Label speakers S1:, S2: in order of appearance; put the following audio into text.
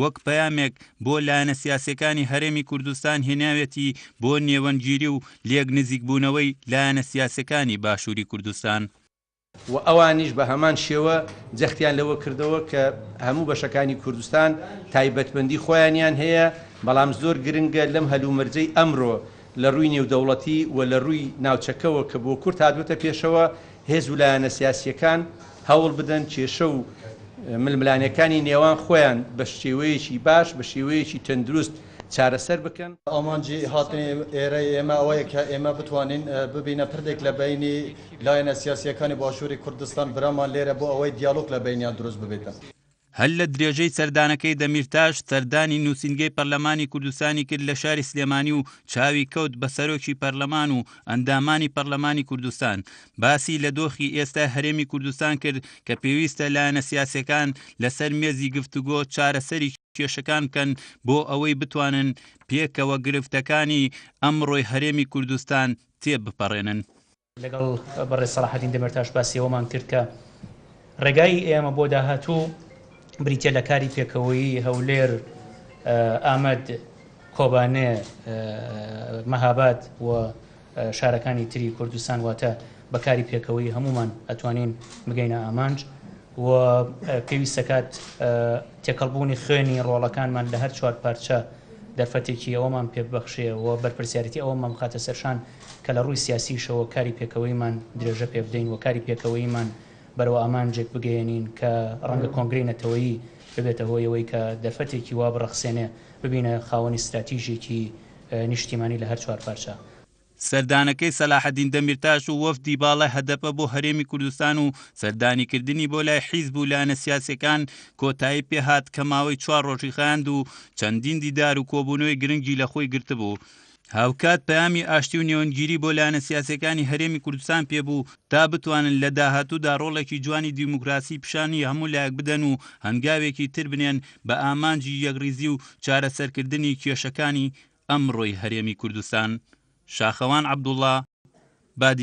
S1: وەک پەیامێک بۆ لایەنە سیاسیەکانی هەرێمی کوردستان هێناویەتی بۆ نێوەندگیری و لێک نزیک بوونەوەی لایەنە سیاسیەکانی باشوری کوردستان. وە
S2: ئەوانیش بە هەمان شێوە جەختیان لەوە کردەوە کە هەموو بەشەکانی کوردستان تایبەتمەندی خۆیانیان هەیە بەڵام زۆر گرنگە لەم هەلومەرجەی ئەمرۆ لە رووی نێودەوڵەتی و لە رووی ناوچەکەوە کە بۆ کورد هاتوەتە پێشەوە هێز و لایەنە سیاسییەکان هەوڵ بدەن کێشە و ململانێکانی نێوان خۆیان بە شێوەیەکی باش، بە شێوەیەکی تەندروست چارەسەر بکەن. ئامانجی
S3: هاتنی ئێرەی ئێمە ئەوەیە کە ئێمە بتوانین ببینە پردێک لە بەینی لایەنە سیاسییەکانی باشووری کوردستان، برامان لێرە بۆ ئەوەی دیالۆگ لە بەینیان دروست ببێتن. هەر لە
S1: درێژەی سەردانەکەی دەمیرتاش سەردانی نووسینگەی پەرلەمانی کوردستانی کرد لە شاری سلێمانی و چاوی کەوت بە سەرۆکی پەرلەمان و ئەندامانی پەرلەمانی کوردستان باسی لە دۆخی ئێستای هەرێمی کوردستان کرد کە پێویستە لایەنە سیاسیەکان لەسەر مێزی گفتوگۆ چارەسەری کێشەکان بکەن بۆ ئەوەی بتوانن پێکەوە گرفتەکانی ئەمڕۆی هەرێمی کوردستان تێبپەڕێنن. لەگەڵ
S4: بەڕێز سەڵاحەدین دەمێرتاش باسی ئەوەمان کرد کە ڕێگای ئێمە بۆ داهاتوو بریتە لە کاری پێکەوەیی هەولێر ئامەد کۆبانێ مەهاباد و شارەکانی تری کوردستان واتە بەکاری پێکەوەی هەمومان ئەتوانین بگەینە ئامانج و پێویستەکات تێکەڵبوونی خوێنی ڕۆڵەکانمان لە هەر چوار پارچە دەرفەتێکی ئەوەمان پێببخشێ و بەرپرسیارەتی ئەوەمان بخاتە سەرشان کە لە ڕووی سیاسییشەوە کاری پێکەوەییمان درێژە پێ بدەین و کاری پێکەوەییمان بەرەو ئامانجێک بگەیەنین کە ڕەنگە کۆنگرەی نەتەوەیی ببێتە هۆی ئەوەی کە دەرفەتێکی وا بڕەخسێنێ ببینە خاوەنی ستراتیژێکی نیشتیمانی لە هەر چوار پارچە. سەردانەکەی
S1: سەلاحەدین دەمیرتاش و وەفدی باڵای هەدەپە بۆ هەرێمی کوردستان و سەردانیکردنی بۆ لای حیزب و لایەنە سیاسییەکان کۆتایی پێ هات کە ماوەی چوار ڕۆژی خایاند و چەندین دیدار و کۆبوونەوەی گرنگی لە خۆی گرتبوو. هاوکات پەیامی ئاشتی و نێوەندگیری بۆ لایەنە سیاسییەکانی هەرێمی کوردستان پێ بوو تا بتوانن لە داهاتوودا ڕۆڵێکی جوانی دیموکراسی پیشانی هەموو لایەک بدەن و هەنگاوێکی تر بنێن بە ئامانجی یەکڕیزی و چارەسەرکردنی کێشەکانی ئەمڕۆی هەرێمی کوردستان شاخەوان عەبدوڵڵا، بادینان.